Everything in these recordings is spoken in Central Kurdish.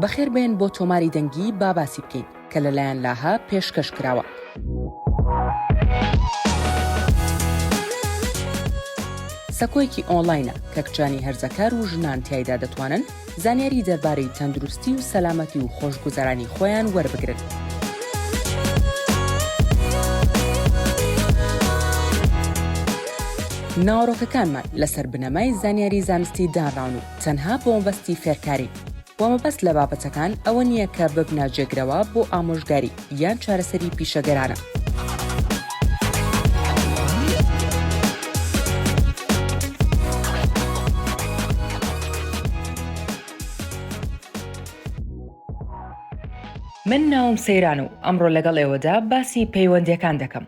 بەخێر بێن بۆ تۆماری دەنگی با باسی بکەین کە لەلایەن لاهە پێشکەش کراوە. سەکۆیەکی ئۆنلاینە کە کچانی هەرزەکار و ژنان تایدا دەتوانن زانیاری دەربارەی تەندروستی و سەلامەتی و خۆشگوزەرانی خۆیان وەربگرن. ناوەڕۆکەکانمان لەسەر بنەمای زانیاری زانستی دانراون و تەنها بۆ مەبەستی فێرکارین و مەبەست لە بابەتەکان ئەوە نییە کە ببنە جێگرەوە بۆ ئامۆژگاری یان چارەسەری پیشەگەرانە. من ناوم سەیران و ئەمڕۆ لەگەڵ ئێوەدا باسی پەیوەندیەکان دەکەم.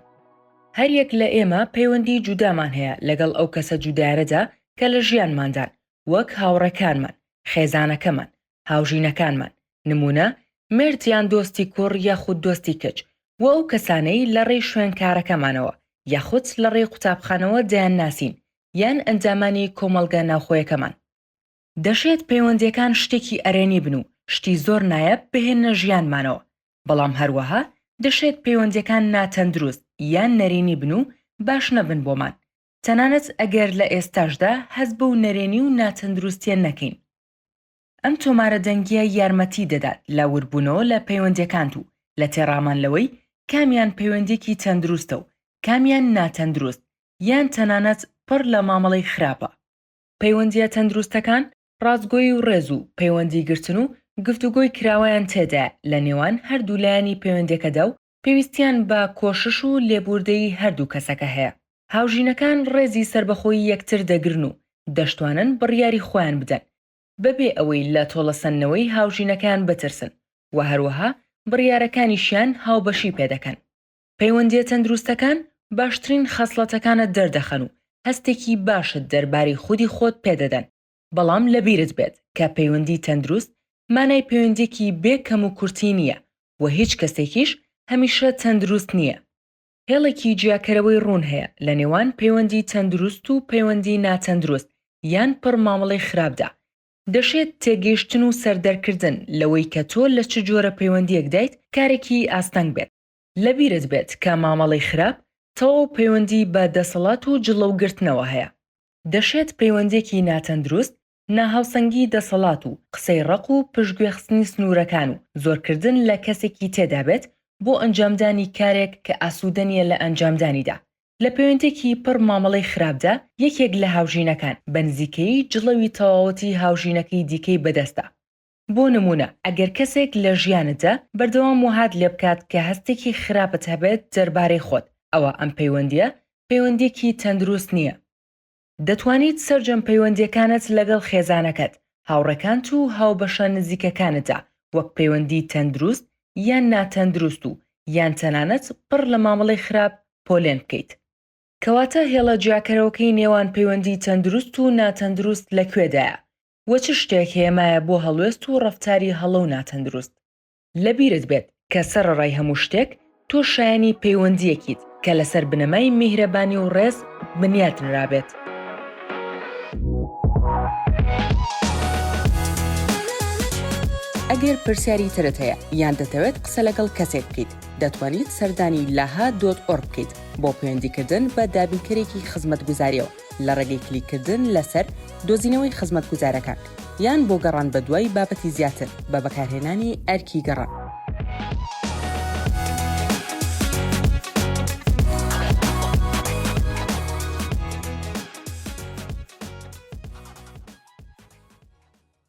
هەریەک لە ئێمە پەیوەندی جودامان هەیە لەگەڵ ئەو کەسە جودایانەدا کە لە ژیانماندان، وەک هاوڕێکانمان، خێزانەکەمان، هاوژینەکانمان، نمونە، مێرد یان دۆستی کوڕ یاخود دۆستی کچ، و ئەو کەسانەی لە ڕێی شوێن کارەکەمانەوە یاخود لە ڕێی قوتابخانەوە دەیانناسین، یان ئەندامانی کۆمەڵگە ناوخۆیەکەمان. دەشێت پەیوەندیەکان شتێکی ئەرێنی بن و شتی زۆر نایەب بهێننە ژیانمانەوە، بەڵام هەروەها دەشێت پەیوەندیەکان ناتەندروست یان نەرێنی بن و باش نەبن بۆمان، تەنانەت ئەگەر لە ئێستاشدا هەست بەو نەرێنی و ناتەندروستیە نەکەین. ئەم تۆمارە دەنگیە یارمەتی دەدات لە وردبونەوە لە پەیوەندیەکانت و لە تێڕامان لەوەی کامیان پەیوەندیەکی تەندروستە و کامیان ناتەندروست یان تەنانەت پڕ لە مامەڵەی خراپە. پەیوەندییە تەندروستەکان ڕاستگۆیی و ڕێز و پەیوەندیگرتن و گفتوگۆی کراوەیان تێدایە لە نێوان هەردوو لایەنی پەیوەندیەکەدا و پێویستیان بە کۆشش و لێبووردەیی هەردوو کەسەکە هەیە. هاوژینەکان ڕێزی سەربەخۆیی یەکتر دەگرن و دەشتوانن بڕیاری خۆیان بدەن بەبێ ئەوەی لە تۆڵەسەندنەوەی هاوژینەکەیان بترسن و هەروەها بڕیارەکانیشیان هاوبەشی پێدەکەن. پەیوەندییە تەندروستەکان باشترین خەسڵەتەکانت دەردەخەن و هەستێکی باشت دەربارەی خودی خۆت پێدەدەن، بەڵام لەبیرت بێت کە پەیوەندی تەندروست مانای پەیوەندیەکی بێ کەموکورتی نییە و هیچ کەسێکیش هەمیشە تەندروست نییە. هێڵێکی جیاکەرەوەی ڕوون هەیە لە نێوان پەیوەندی تەندروست و پەیوەندی ناتەندروست یان پڕ مامەڵەی خراپدا. دەشێت تێگەیشتن و سەردەرکردن لەوەی کە تۆ لە چ جۆرە پەیوەندیەکدایت کارێکی ئاستەنگ بێت، لەبیرت بێت کە مامەڵەی خراپ تەواو پەیوەندی بە دەسەڵات و جڵەو گرتنەوە هەیە. دەشێت پەیوەندێکی ناتەندروست، ناهاوسەنگی دەسەڵات و قسەی ڕەق و پشتگوێخستنی سنوورەکان و زۆرکردن لە کەسێکی تێدا بێت بۆ ئەنجامدانی کارێک کە ئاسوودە نییە لە ئەنجامدانیدا. لە پەیوەندێکی پڕ مامەڵەی خراپدا یەکێک لە هاوژینەکان بە نزیکەیی جڵەوی تەواوەتی هاوژینەکەی دیکەی بەدەستە. بۆ نموونە ئەگەر کەسێک لە ژیانتدا بەردەوام وەهات لێ بکات کە هەستێکی خراپت هەبێت دەربارەی خۆت، ئەوا ئەم پەیوەندییە پەیوەندییەکی تەندروست نییە. دەتوانیت سەرجەم پەیوەندییەکانت لەگەڵ خێزانەکەت، هاوڕێکانت و هاوبەشە نزیکەکانتدا وەک پەیوەندیی تەندروست یان ناتەندروست و یان تەنانەت پڕ لە مامەڵەی خراپ پۆلێن بکەیت. کەواتە هێڵە جیاکەرەوەکەی نێوان پەیوەندیی تەندروست و ناتەندروست لە کوێدایە؟ و چ شتێک هێمایە بۆ هەڵوێست و ڕەفتاری هەڵە و ناتەندروست. لەبیرت بێت کە سەرەڕای هەموو شتێک تۆ شایەنی پەیوەندییەکیت کە لەسەر بنەمای میهرەبانی و ڕێز بنیات نرابێت. ئەگەر پرسیاری ترت هەیە یان دەتەوێت قسە لەگەڵ کەسێک بکەیت، دەتوانیت سەردانی لاها دۆت ئۆرگ بکەیت بۆ پەیوەندیکردن بە دابینکەرێکی خزمەتگوزارییەوە. لە ڕێگەی کلیککردن لەسەر دۆزینەوەی خزمەتگوزارەکان، یان بۆ گەڕان بەدوای بابەتی زیاتر بە بەکارهێنانی ئەرکی گەڕان.